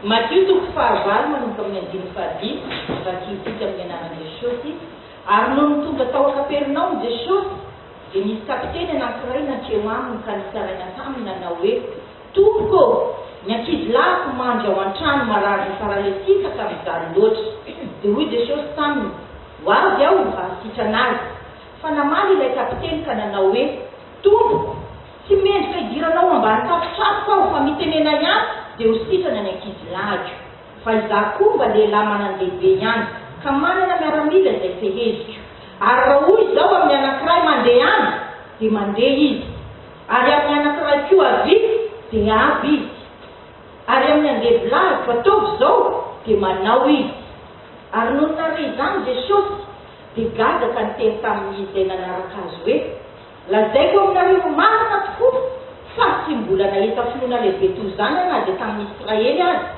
Matio toko fahavalo manomboka amin'ny andininy fahadimy, vakiantsika amin'ny anaran'i Jesosy, Ary nony tonga tao Kapernaomy Jesosy, dia nisy kapiteny anankiray nankeo aminy ka nitsaraina taminy nanao hoe, Tompoko ô, ny ankizilahiko mandry ao an-trano marary ho paralesika ka mijaly loatra. Dia hoy Jesosy taminy, Ho avy aho mba hisitrana azy. Fa namaly ilay kapiteny ka nanao hoe, Tompoko! Tsy mendrika hidirana ao ambany tafotranoko aho fa mitenena ihany dia ho sitrana ny ankizy lahiko. Fa izaho koa mba lehilahy manan-dehibe ihany ka manana miaramila izay feheziko. Ary raha hoy izaho amin'ny anankiray mandeha any dia mandeha izy, ary amin'ny anankiray koa avia dia avy izy. Ary amin'ny andevo lahiko, ataovy izao, dia manao izy. Ary nony nare izany Jesosy dia gadra ka niteny tamin'ny izay nanaraka Azy hoe. Lazaiko aminareo ho marina tokoa fa tsy mbola nahita finoana lehibe toy izany aho na dia tamin'ny Israely aza.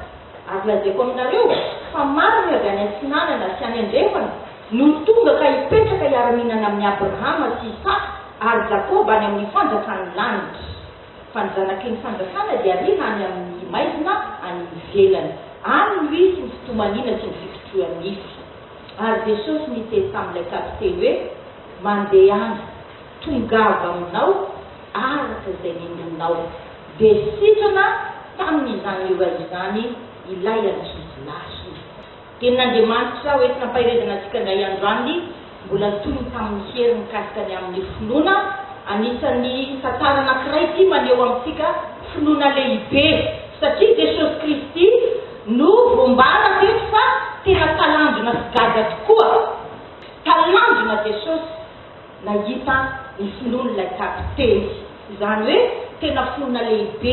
Ary lazaiko aminareo fa maro ny avy any atsinanana sy any andrefana no tonga ka hipetraka hiara-mihinana amin'i Abrahama sy Isaka ary Jakoba any amin'ny fanjakan'ny lanitra. Fa ny zanaky ny fanjakana dia hariana any amin'ny maizina any ivelany. Any no hisy ny fitomaniana sy ny fikitrohan-nify. Ary Jesosy niteny tamin'ilay kapiteny hoe. Mandehana, tongava aminao araka izay ninoanao. Dia sitrana tamin'izany iray izany ilay ankizy lasina. Tenin'Andriamanitra hoentina am-paherezana antsika indray andro any, mbola toy ny tamin'ny hery mikasika ny amin'ny finoana. Anisan'ny tantara anankiray ity maneho amintsika finoana lehibe, satria Jesosy Kristy no voambara teto fa tena talanjona sy gaga tokoa. Talanjona Jesosy nahita ny finoan'ilay kapiteny. Izany hoe tena finoana lehibe,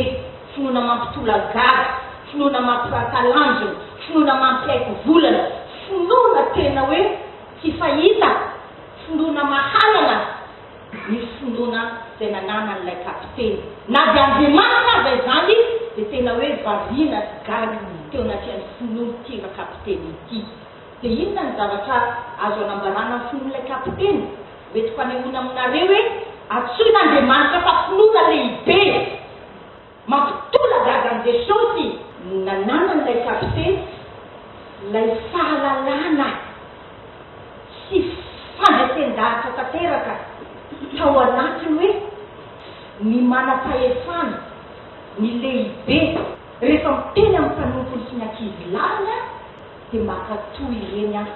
finoana mampitolagaga, finoana mampirahatalanjona, finoana mampiaiky volana, finoana tena hoe tsy fahita, finoana mahalana ny finoana izay nananan'ilay kapiteny. Na dia Andriamanitra aza izany dia tena hoe variana sy gaga teo anatrehan'ny finoan'ity rakapiteny ity. Dia inona ny zavatra azo anambarana ny fon'ilay kapiteny? Hoentiko hanehoana aminareo hoe antsoin'Andriamanitra fa Finoana Lehibe mampitolagaga an'i Jesosy. Nananan'ilay kapiteny ilay fahalalana sy fandresen-dahatra tanteraka tao anatiny hoe ny manam-pahefana, ny lehibe, rehefa miteny amin'ny mpanompony sy ny ankizilahiny, Dia mankatoa ireny aho,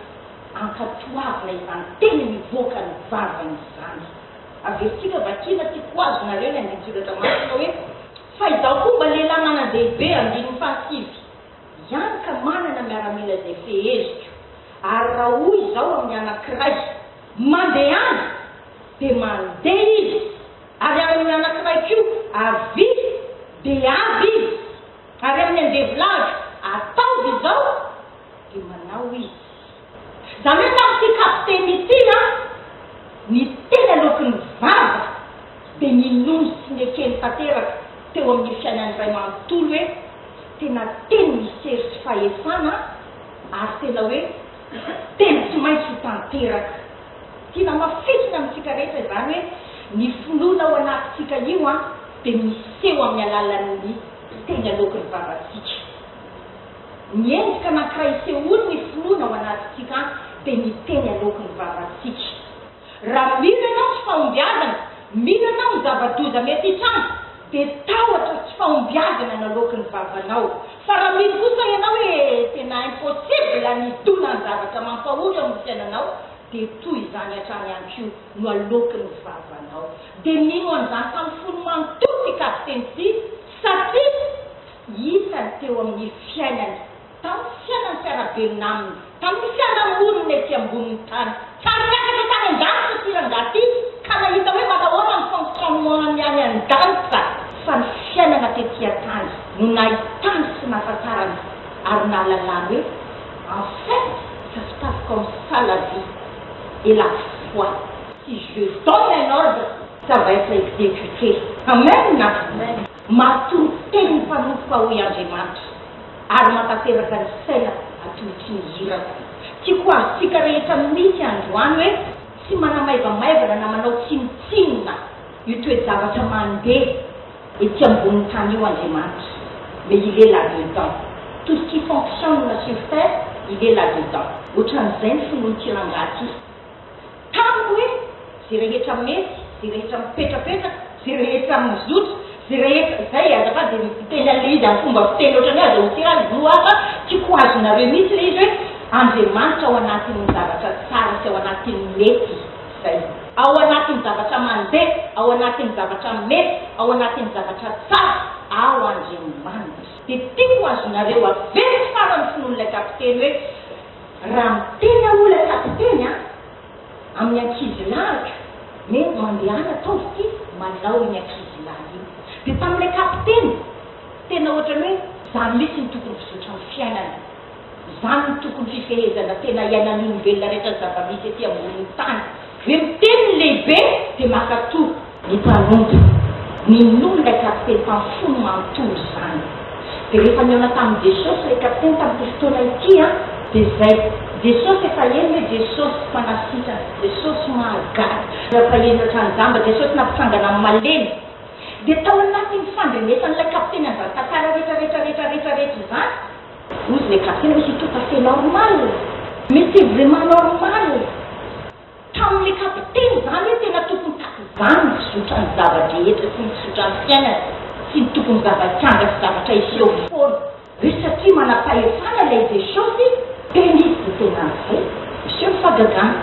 ankatoavina izany teny mivoaka ny vavany izany. Averintsika vakiana ity poizinareo ny andinin-tsoratra masina hoe, Fa izaho koa mba lehilahy manan-dehibe, andininy fahasivy, ihany ka manana miaramila izay feheziko, ary raha hoy izaho amin'ny anankiray, Mandehana! dia mandeha izy, ary amin'ny anankiray koa, Avia! dia avy izy. Ary amin'ny andevoladro ataovy izao dia manao izy. Izany hoe tamin'ity kapiteny ity a, ny teny aloaky ny vava dia ninoany sy nekeny tanteraka teo amin'ny fiainany iray manontolo hoe tena teny misy hery sy fahefana ary tena hoe teny tsy maintsy ho tanteraka. Tsy namafisina amintsika rehetra izany hoe ny finoana ao anatintsika io dia miseho amin'ny alalan'ny mpiteny aloaky ny vavantsika. Ny endrika anankiray isehoan'ny finoana ao anatintsika dia ny teny aloaky ny vavantsika. Raha mino ianao tsy fahombiazana, mino ianao ny zava-doza mety hitranga, Dia tahotra sy fahombiazana naloaky ny vavanao. Fa raha mino kosa ianao hoe tena impossible ny hidoana ny zavatra mampahory ao amin'ny fiainanao, dia toy izany hatrany ihany koa no aloaky ny vavanao. Dia nino an'izany tamin'ny fony manontolo i Kapiteny Tsihy satria hitany teo amin'ny fiainany. Tamin'ny fiainan'ny mpiara-belona aminy, tamin'ny fiarahamonina ety ambonin'ny tany. Fa niakatra tany an-danitra ity rangahy ity ka nahita hoe manahoana ny fonctionnement-ny any an-danitra. Fa ny fiainana tety an-tany no nahitany sy nahafantarany ary nahalalany hoe en fait ça se passe comme ça la vie et la foi. Si je donne un ordre, ça va être exécuté. Amen! Matoa teny ny mpanompoka hoy Andriamanitra, ary mantanteraka ny saina atolotry ny irako. Tiako ho azontsika rehetra mihitsy androany hoe tsy manamaivamaivana na manao tsinontsinona io toe-javatra mandeha ety ambonin'ny tany io Andriamanitra, mais il est là dedans. Tout ce qui fonctionne sur terre, il est là dedans. Ohatran'izay ny finoan'ity rangahy ity. Tamiko hoe, Ze rehetra mety, ze rehetra mipetrapetraka, ze rehetra mizotra, ze rehetra, zay e, azafady dia miteny an'ilay izy amin'ny fomba fiteny ohatran'ny hoe aza hosirana, no aza tiako azonareo mihitsy ilay izy hoe, Andriamanitra ao anatin'ny zavatra tsara sy ao anatin'ny mety, zay. Ao anatin'ny zavatra mandeha, ao anatin'ny zavatra mety, ao anatin'ny zavatra tsara, ao Andriamanitra. Dia tiako azonareo averiko faran'ny finoan'ilay kapiteny hoe, Raha ny tena olana kapiteny a! Amin'ny ankizy lahatra hoe mandehana ataovy ity malao iny ankizy lahy iny. Dia tamin'ilay kapiteny tena ohatran'ny hoe izany mihitsy no tokony fizotra ny fiainana. Izany no tokony fifehezana tena iainan'ny olombelona rehetra ny zava-misy ety ambonin'ny tany. Ve miteny ny lehibe dia maka toby. Ny mpanompo ninoa ilay kapiteny mpamfony manontolo izany dia rehefa nihaona tamin'i Jesosy ilay kapiteny tamin'ity fotoana ity an dia izay Jesosy efa eny hoe Jesosy mpanasitrana Jesosy mahagaga efa eny ohatran'ny jamba Jesosy nampitsangana amin'ny malemy dia tao anatin'ny fandrenesan'ilay kapiteny an'izany tantara rehetra rehetra rehetra rehetra rehetra izany Vous ne captez monsieur tout à fait normal mais c'est vraiment normal taminy capter izany hoe tena tokony takizany ny fizotra ny zava-drehetra sy ny fizotra ny fiainana sy ny tokony zava-kianja sy zavatra hiseho foana hoe satria manam-pahefana ilay Jesosy tena izy dia tena an'izay miseho ny fahagagana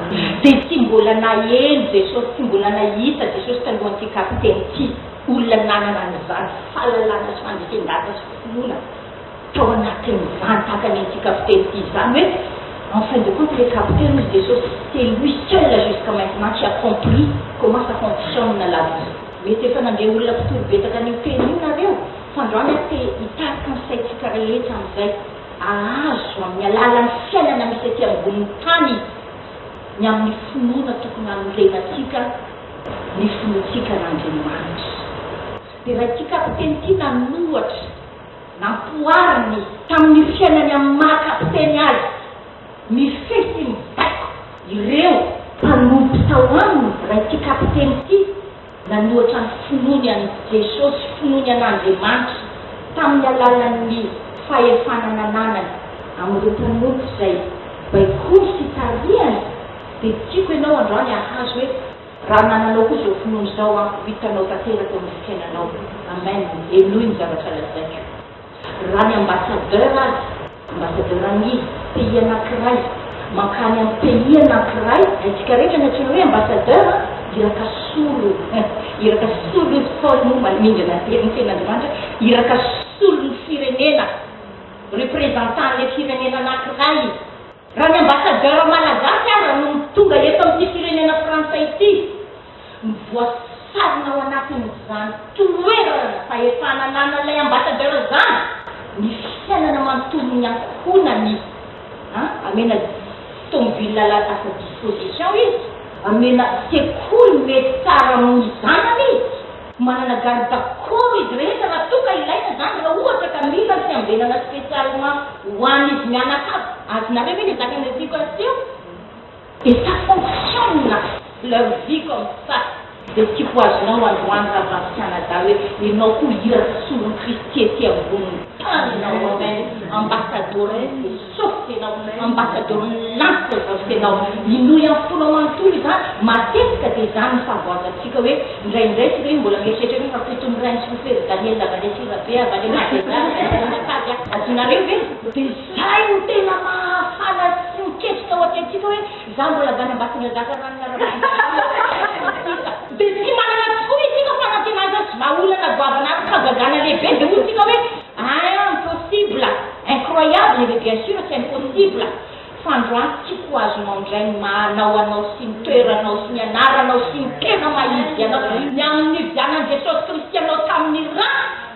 dia tsy mbola naheno Jesosy tsy mbola nahita Jesosy talohan'ity capter an'ity olona nanana an'izany fahalalana sy fandresen-data sy finoana tao anatin'ny vantany ity kapiteny ity izany hoe en fin de compte le capitaine hoy Jesosy c'est lui seul là jusqu'à maintenant qui a compris comment ça fonctionne la vie. Mety efa nandeha olona mpitory betaka an'io teny io nareo fa andro any aho te hitarika ny saintsika rehetra amin'izay ahazo amin'ny alalan'ny fiainana misy aty ambonin'ny tany ny amin'ny finoana tokony hanorenantsika ny finoantsika an'Andriamanitra. Dia raha ity kapiteny ity nanohatra. Nampoariny tamin'ny fiainany amin'ny maha kapiteny azy, mifehy sy mibaiko ireo mpanompo tao aminy raha ity kapiteny ity nanohatra ny finoany an'i Jesosy, finoany an'Andriamanitra, tamin'ny alalan'ny fahefana nananany amin'ireo mpanompo izay baikoiny sy tarihany, dia tiako ianao androany hahazo hoe. Raha mananao koa izao finoana izao aho, ho hitanao tanteraka eo amin'ny fiainanao. Amen! Henoy ny zavatra lazaiko. Raha ny ambassadeur aza, ambassadeur an'ia? pays anankiray, mankany amin'ny pays anankiray, haintsika rehetra ny antsoina hoe ambassadeur an! Iraka solo, iraka solon'ny ntaolo moa maningana ny tenin'ny Tenin'Andriamanitra, iraka solon'ny firenena, représentant an'ilay firenena anankiray. Raha ny ambasadaora malagasy aza no tonga eto amin'ity firenena frantsay ity no voasarona ao anatin'izany toerana fahefana ananan'ilay ambasadaora izany ny fiainana manontolon'ny ankohonany an! amena tomobile lasa à sa disposition izy, amena sekoly mety tsara amin'ny zanany izy. Manana garde corps izy rehetra raha toa ka ilaina izany, raha ohatra ka mila fiambenana spécialement ho an'izy mianakavy, azonareo ve le zaka noeziako azy teo? Et ça fonctionne leur vie comme ça, izay tiako ho azonao androany Ravalo Canada hoe ianao koa hira solon-kristy ety ambony tany ianao, amen, ambassadores de Sôfika ianao, ambassadeur milantoka ny vavontenao, inoy amin'ny fonao manontolo izany, matetika dia izany no fahavoazantsika hoe indraindray tsy reny mbola mieritreritra hoe fa fito miray ny sofera Daniel Avalety Rabe avy any Madera no mpitondra tady a! Adinareo ve? Dia izay no tena mahafana sy miketrika ao an-tentsika hoe izaho mbola avy any Ambatondradraka ranona Ramanjarimasinina. Dia tsy manana tokoa isika fanantenana tsy vahaolana goavana ary fahagagana lehibe dia hoy isika hoe Aah impossible, incroyable ve bien sûr tsy impossible fa androany tsy ko azonao indray ny maha anao anao sy ny toeranao sy ny anaranao sy ny tena maha izy anao ny amin'ny nividianan'i Jesosy Kristy anao tamin'ny ra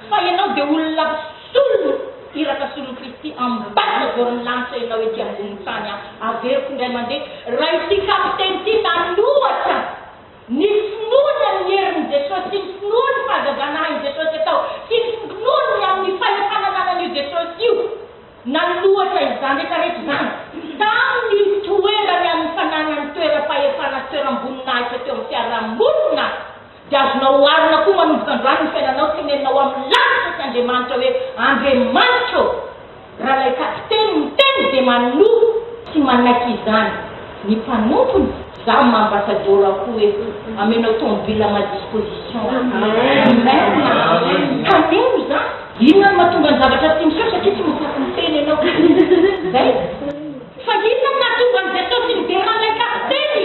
fa ianao dia olona solon iraka solon'i Kristy ambadika voron'ny lanitra ianao ety ambonin'ny tany averiko indray mandeha raha ity kapiteny ity nanohatra Ny finoana ny herin'i Jesosy sy ny finoana ny fahazazanahan'i Jesosy atao sy ny finoana ny amin'ny fahefana ananan'io Jesosy io nanoloatra izany rehetra rehetra izany tamin'ny toerany amin'ny fananany toeram-pahefana sy toeram-boninahitra teo amin'ny fiaraha-monina dia azonao oharina koa manomboka androany ny fiainanao tenenina ao amin'ny lalitra sy Andriamanitra hoe Andriamanitra ô Raha ilay kapiteny miteny dia manoro sy manaiky izany ny mpanompony, za ma ambassador aho koa hoe amenao tomobile à ma disposition aho. Amen na amen. Kaneo izany. Inona no mahatonga ny zavatra tsy miseho satria tsy mahafaty miteny ianao. Izay. Fa inona no nahatonga an'i Jesosy niderana ilay kapiteny?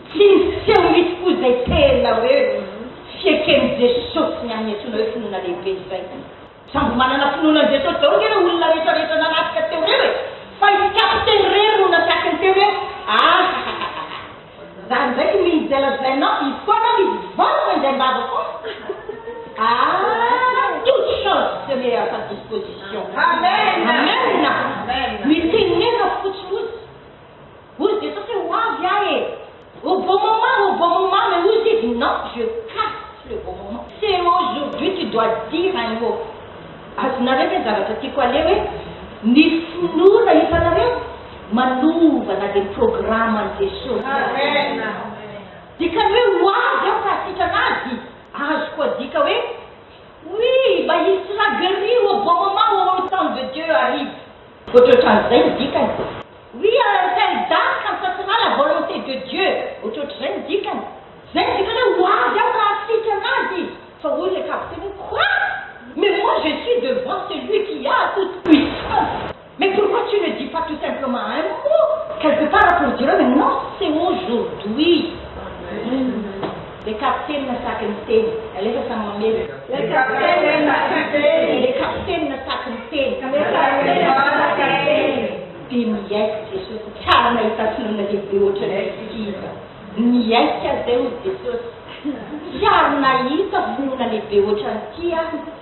Tsy nisy seho mihitsy koa izay tena hoe fieken'i Jesosy ny amin'ny antsoina hoe finoana lehibe izay. Sambo manana finoana an'i Jesosy daholo ve ireo olona rehetrarehetra nanafika teo ireo e? Fa i Kapiteny irery no natakiny teo hoe ahahahahahah! Za ndraiky mino dia lazainao hifoana ny vava indray am-bava foana? Aah! Toute chose se met à sa disposition. Amen! Amen! Mitenena fotsiny hoy izy. Hoy Jesosy hoe, Ho avy Ahy e! Au bon moment, au bon moment, mais hozy izy, Non, je casse le bon moment. C'est aujourd'hui tu dois dire un mot. Azonareo ve ny zavatra tiako haleha hoe, ny finoana hitanareo manova na dia ny programan'i Jesosy aza. Dikany hoe ho avy Aho ka hasitrana Azy, azo koa adika hoe, Oui, mba il sera gueri au bon moment, au temps de Dieu arrive. Vao tsy ohatran'izay ny dikany. Oui à l'interdare quand ça sera la volonté de Dieu, ohatrohatr'izay ny dikany. Zay ny dikany hoe ho avy aho raha asity anazy izy. Fa hoy ilay kapiteny hoe quoi? Mais moi je suis devant celui qui a toute puissance, mais pourquoi tu ne dis pas tout simplement un mot quelque part pour dire eo hoe non c'est aujourd'hui. Amen. Le kapitenina saky miteny. Alefa samy mamely. Le kapitenina saky miteny. Le kapitenina saky miteny. Le kapitenina saky miteny. Dia niaiky Jesosy tsara nahita sorona lehibe hoatran'ny kihina. Niaiky azy izay hoy Jesosy, Tsiaro nahita finoana lehibe hoatran'ity aho.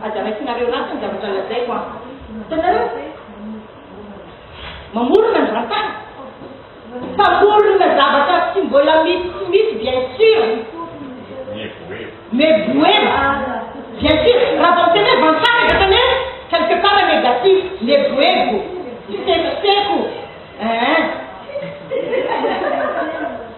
Aza raisinareo ratsy ny zavatra lazaiko an! Hitanareo? Mamorona ny vantana. Mpamorona zavatra tsy mbola misy tsy misy bien sûr. Mais boema. Bien sûr, raha vao miteny hoe vantana dia tena hoe quelque part négatif, leboebo, fisekoseko. Hein?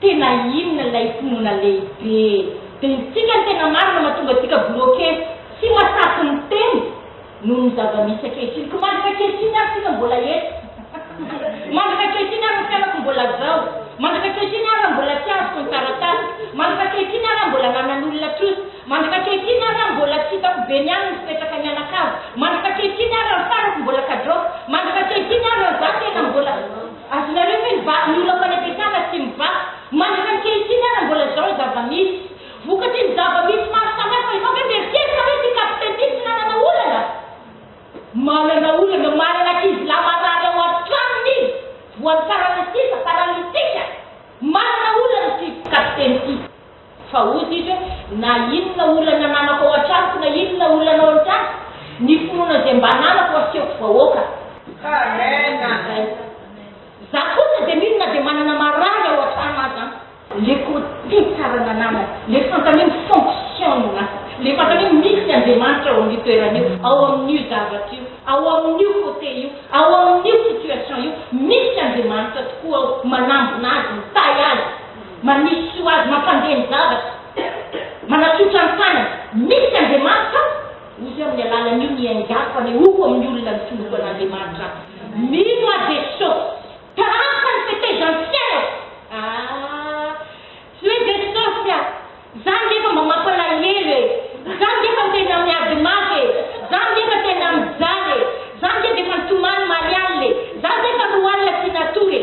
Tena inona ilay finoana lehibe? Dia isika no tena marina mahatonga antsika bloquer, tsy mahasahy miteny noho ny zava-misy ankehitriny. Ko mandrika ankehitriny ary tsika mbola eto? Mandrika ankehitriny ary ny fianako mbola zao? Mandrika ankehitriny ary raha mbola tsy azoko ny taratasiko? Mandrika ankehitriny ary raha mbola ananan'olona trosa? Mandrika ankehitriny ary raha mbola tsy hitako be ny any ny fipetraka mianakavy? Mandrika ankehitriny ary raha ny farako mbola kadroka? Mandrika ankehitriny ary raha za tena mbola. Azonareo ve ny vaky ny ola fanebetana tsy mivaky mandritra ankehitriny ara mbola zao ny zava misy? Vokatry ny zava misy maro samy hafa izao ve mieritreritr nareo ity capitaine ity tsy nanana olana? Manana olana manana ankizy lahy marary ao an tranony izy voan'ny paralysis, paralytique, manana olana ity capitaine ity. Fa hoy izy hoe, Na inona olana ananako ao an-tranoko na inona olana ao an-trano, ny finoana izay mba ananako asehoko vahoaka. Amen. Za koa na dia mino na dia manana marary ao an-trano aza an. Le côté tsara ananana, le fantany hoe mi-fonctionne, le fantany hoe misy Andriamanitra ao amin'io toerana io, ao amin'io zavatra io, ao amin'io côté io, ao amin'io situation io, misy Andriamanitra tokoa ao, manambina azy, mitahy azy. Manisy tsy ho azy mampandeha ny zavatra, manatsotra ny tanany, misy Andriamanitra aho, ozy aho amin'ny alalan'io ny aingako hanehoako amin'ny olona ny finoako an'Andriamanitra aho, mino aho Jeso, tarafina ny fetezan'ny fiainako, aah tsy hoe Jesosy a, za ngefa mba mampalahelo e, za ngefa tena miady mafy e, za ngefa tena mijaly e, za nge defa nitomany maly alina e, za zefa roa alina tsy natory e.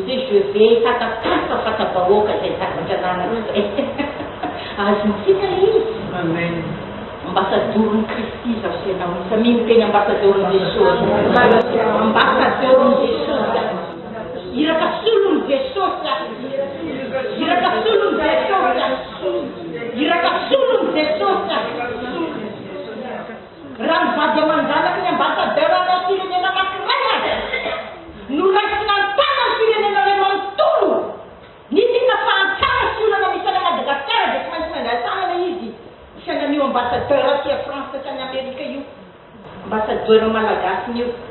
JW, Fanta-polo fa fanta-bahoaka izay zavatra ananako izay. Azontsika ilay izy. Amen. Ambasadoron'i Kristy izaho sy ianao. Iza mino tena ambasadoron'i Jesosy? Ambasadoron'i Jesosy. Iraka solon'i Jesosy. Iraka solon'i Jesosy. Iraka solon'i Jesosy. Raha ny vady aman-janaky ny ambassadeur ana firenena anankiray aza no raisina an-tana ny firenena iray manontolo, ny tena fahantrana sy olana misy any à Madagascar dia tsy maintsy mandray an-tanana izy saingy an'io ambassadeur aty à France sy any Amerika io, ambassadeur malagasiny io.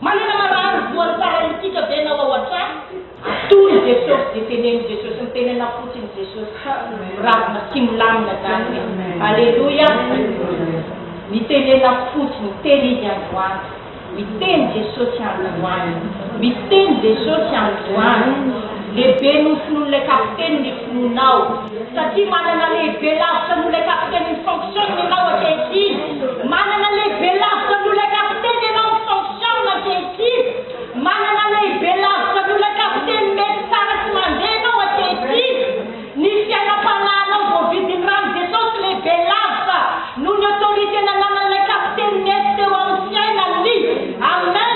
Manana marary voan'ny paralitika ve ianao ao an-trano? Atory i Jesosy dia teneno Jesosy ny tenenao fotsiny Jesosy miravona sy milamina izany hoe Aleloia Ny tenenao fotsiny teny Izy androany Miteny Jesosy androany Miteny Jesosy androany Lehibe noho ny finoan'ilay kapiteny ny finoanao Satria manana lehibe lavitra noho ilay kapiteny ny fonction-ny ianao ankehitriny. Manana lehibe lavitra noho ilay kapiteny ianao ny fonction-ny ankehitriny. Manana lehibe lavitra noho ilay kapiteny mety tsara sy mandeha ianao ankehitriny. Ny fiainam-panahinao voavidin'ny ran'i Jesosy lehibe lavitra noho ny autorité nananan'ilay kapiteny mety teo amin'ny fiainany. Amen!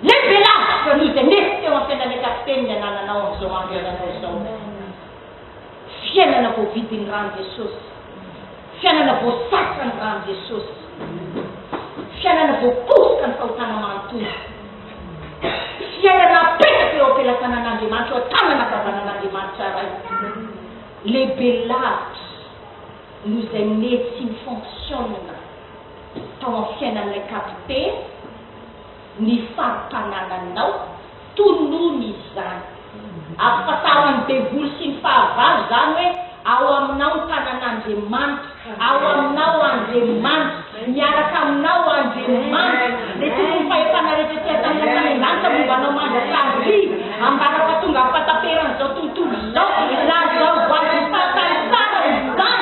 Lehibe lavitra noho izay nety teo amin'ny fiainan'ilay kapiteny ny anananao amin'izao andro iainanao izao. Fiainana voavidin'ny ran'i Jesosy. Fiainana voasasa ny ran'i Jesosy. Fiainana voaposoka ny fahotana manontolo. Fiainana apetraka eo am-pelatanan'Andriamanitra, eo an-tanana ankavanan'Andriamanitra Ray. Lehibe lavitra noho izay nety sy nifonksionina tao amin'ny fiainan'ilay kapiteny, ny fampanananao, tonony izany. Ampifantaro an'ny devoly sy ny fahavalo izany hoe ao aminao ny tanan'Andriamanitra, ao aminao Andriamanitra, miaraka aminao Andriamanitra, dia tokony ny fahefana rehetra ety an-tany sy any an-danitra momba anao mandrakariva, ambara-pahatongavam-pahataperan'izao tontolo izao, lazao ho azy ny fahasahisaina izany.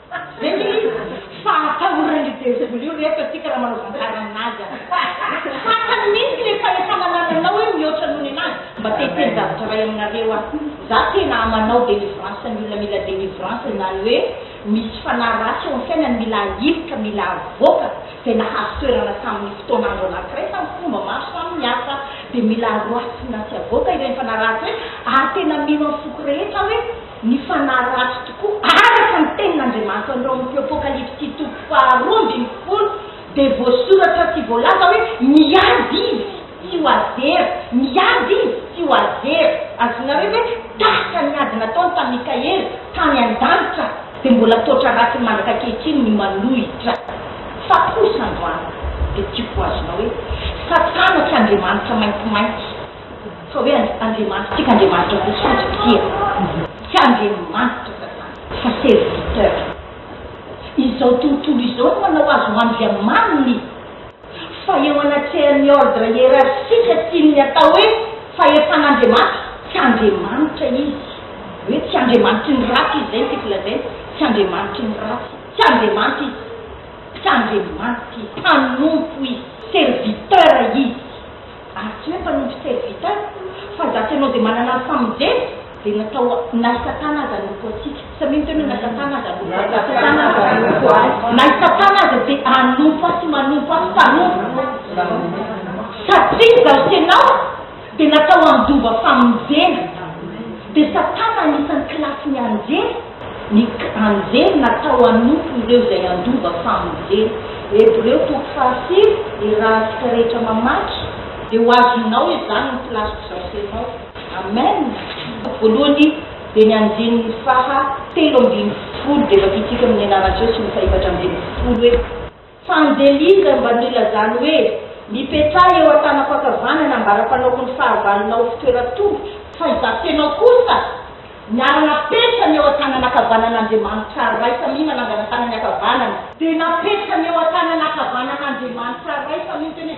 Ve le izy fa atahoran io devoly io reto atsika raha manao tantara aminazy an! Fantany mintsy le fahefana anananao hoe mihoatra noho ny anazy! Mba te hiteny zavatra iray aminareo aho, za tena manao delivrance ny olona mila delivrance izany hoe misy fanahy ratsy eo am fiainany mila ahilika mila avoaka zay nahazo toerana taminy fotoana andro anakiray tamy fomba maro samy hafa de mila aroasina sy avoaka ireny fanahy ratsy ireny ary tena mino am foko rehetra aho hoe Ny fanahy ratsy tokoa, araka ny tenin'Andriamanitra ao amin'ny teo Apokalypsy toko faharoa ambin'ny folo, dia voasoratra sy voalaza hoe, Miady izy, tsy ho azy very, miady izy, tsy ho azy very. Azonareo ve dalitra ny ady nataony tamin'i Mikaela, tany an-danitra? Dia mbola toatra ratsy mandraka ankehitriny ny manohitra. Fa kosa androany dia tiako ho azonao hoe, Satana tsy Andriamanitra maintimainty. Fa hoe Andriamanitrantsika Andriamanitra fotsifotsy tsia. Tsy Andriamanitra ka zany fa serviteur. Izao tontolo izao no manao azy ho andriamaniny. Fa eo anatrehan'ny ordre hiérarchique tian'ny atao hoe fahefan'Andriamanitra, tsy Andriamanitra izy. Hoe tsy Andriamanitry ny ratsy izy, izay no tiako lazaina. Tsy Andriamanitry ny ratsy. Tsy Andriamanitra izy. Tsy Andriamanitra izy. Mpanompo izy. Serviteur izy. Atsy moa mpanompo serviteur fa ndaty anao dia manana ny famonjena dia natao na satana aza hanompo antsika samia miteny hoe na satana aza hanompo ahy na i satana aza dia hanompo ahy sy manompo ahy mpanompo satria izaho sy ianao dia natao handova famonjena dia satana anisan'ny kilasin'ny anjely Ny k'Angelina atao hanompo ireo izay handova famonjena. Hebreo toko fahasivy, Ry rahatsika rehetra mamaky, dia ho azonao izany ny plask'o zasenao. Amen! Voalohany dia ny andininy faha telo ambin'ny folo dia vakintsika amin'ny anaran'i Jeso sy ny faha efatra ambin'ny folo hoe. Fa ny delindra mba nilazany hoe, Mipetraha eo an-tanam-pankavanana mba ara-panaoko ny fahavalonao ho fitoeran-tongotro. Fa izaho tena kosa, niara-napetrany eo an-tanan'ankavanan'Andriamanitra Ray samia manangana tanany ankavanana. Dia napetrany eo an-tanan'ankavanan'Andriamanitra Ray samia ny tenany.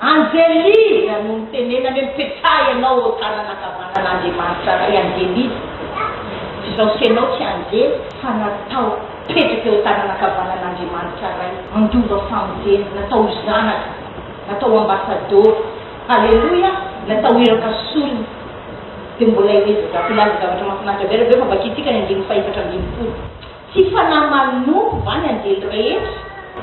Anjeliza no nitenenany hoe mipetraha ianao eo tanana ankavanana Andriamanitra Ray Anjeliza izao sy ianao tsy anjely fa natao hipetraka eo tanana ankavanana Andriamanitra Ray handova famonjena natao ho zanaka natao ho ambasadôro Aleloia natao hiraka sorona dia mbola ezazaiko hilaza zavatra mahafinaritra be rabe fa vakintsika ny andininy fahefatra ambin'ny folo Tsy fanahy manompo va ny anjely rehetra?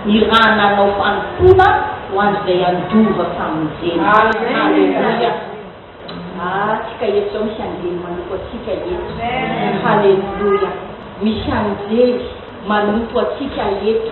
Ny ra nanao fanompoana ho an'izay handova famonjena. Aleloia. Ah, tsy kay eto zao misy anjely manompo antsika eto. Aleloia. Misy anjely manompo antsika eto.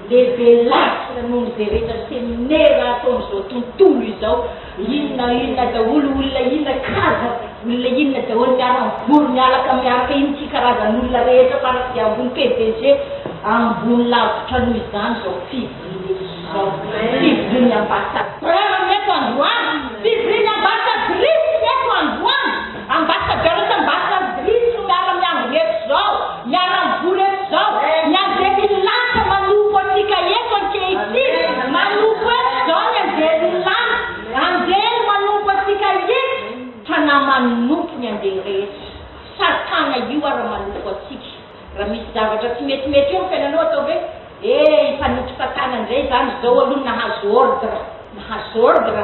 Lehibe lavitra noho izay rehetra seminera ataon'izao tontolo izao, inona inona daholo, olona inona, kaza olona inona daholo miara mivory mialaka miaraka inona ity karazan'olona rehetra fara dia ambony pdg ambony lavitra noho izany izao fivoriana izao, fivorian'ny ambasadaoro. Raha mametra androany fivorian'ny ambasadaoro eto androany. Ambassadeur sy ambassadrice no miara miangona eto izao, miara mivory eto izao, ny anjelin'ny lanitra manompo antsika eto ankehitriny, manompo eto izao ny anjelin'ny lanitra, anjely manompo antsika eto, fanahy manompo ny anjely rehetra, satana io ara manompo antsika, raha misy zavatra tsy metimety eo amin'ny fiainanao atao ve? eh hifanompo satana indray izany, izao aloha nahazo ordre, nahazo ordre.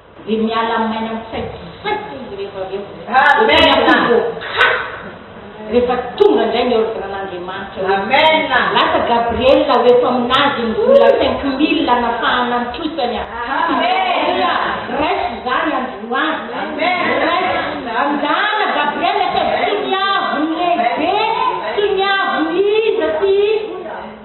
Dia miala amin'ny aina mitsaikisaika izy rehefa avy eo. Amen! Dia tena voakasika rehefa tonga indray ny ordre an'Andriamanitra hoe. Amen! Lasa Gabriel ho eto amin'azy ny vola cinq mille hanafahana ny trosany a! Aleloia! Raiso izany androany! Amen! Raiso! Anjana Gabriel fa tsy ny avon'ny lehibe, tsy ny avon'ny iza sy iza.